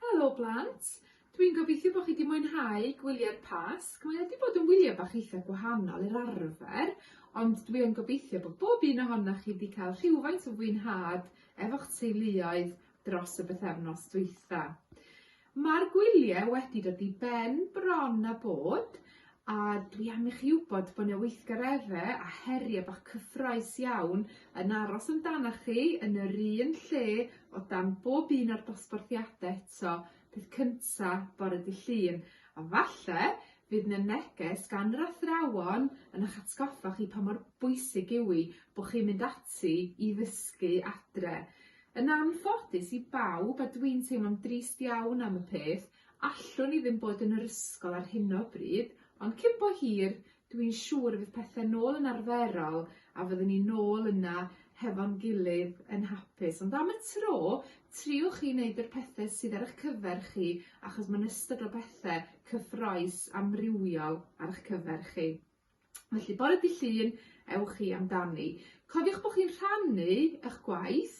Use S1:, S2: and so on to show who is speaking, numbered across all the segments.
S1: Helo blant! Dwi'n gobeithio bod chi wedi mwynhau gwyliau'r Pasg. Mae wedi bod yn wyliau bach eitha gwahanol i'r arfer, ond dwi yn gobeithio bod bob un ohonoch chi wedi cael rhywfaint o fwynhad efo'ch teuluoedd dros y bythefnos dwytha. Mae'r gwyliau wedi dod i ben bron a bod, a dwi am i chi wybod bod 'na weithgaredde a herie bach cyffrous iawn yn aros amdana chi yn yr un lle o dan bob un o'r dosbarthiade eto peth cynta bore dy' Llun a falle fydd 'na neges gan yr athrawon yn 'ych atgoffa chi pa mor bwysig yw 'i bo' chi'n mynd ati i ddysgu adre. Yn anffodus i bawb a dwi'n teimlo'n drist iawn am y peth Allwn i ddim bod yn yr ysgol ar hyn o bryd, ond cyn bo hir, dw i'n siŵr y bydd pethau nôl yn arferol a fyddwn ni nôl yna hefo'n gilydd yn hapus. Ond am y tro, triwch i wneud yr pethau sydd ar eich cyfer chi achos mae'n ystod o bethau cyffroes amrywiol ar eich cyfer chi. Felly, bore dydd Llun, ewch chi amdani. Cofiwch bod chi'n rhannu eich gwaith,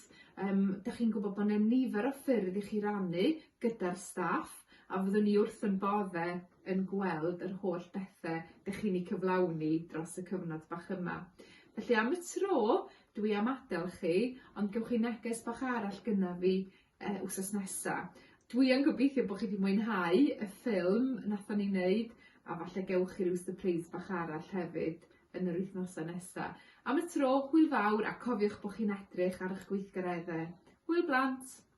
S1: um, da chi'n gwybod bod yna nifer o ffyrdd i chi rannu gyda'r staff, a fyddwn ni wrth yn bodde yn gweld yr holl bethau da chi'n ei cyflawni dros y cyfnod bach yma. Felly am y tro, dwi am adael chi, ond gewch chi neges bach arall gyda fi e wsos nesa. Dwi yn gobeithio bod chi wedi mwynhau y ffilm nathon ni neud a falle gewch chi ryw sypreis bach arall hefyd yn yr wythnosa nesa. Am y tro, hwyl fawr a cofiwch bod chi'n edrych ar eich gweithgaredde. Hwyl blant!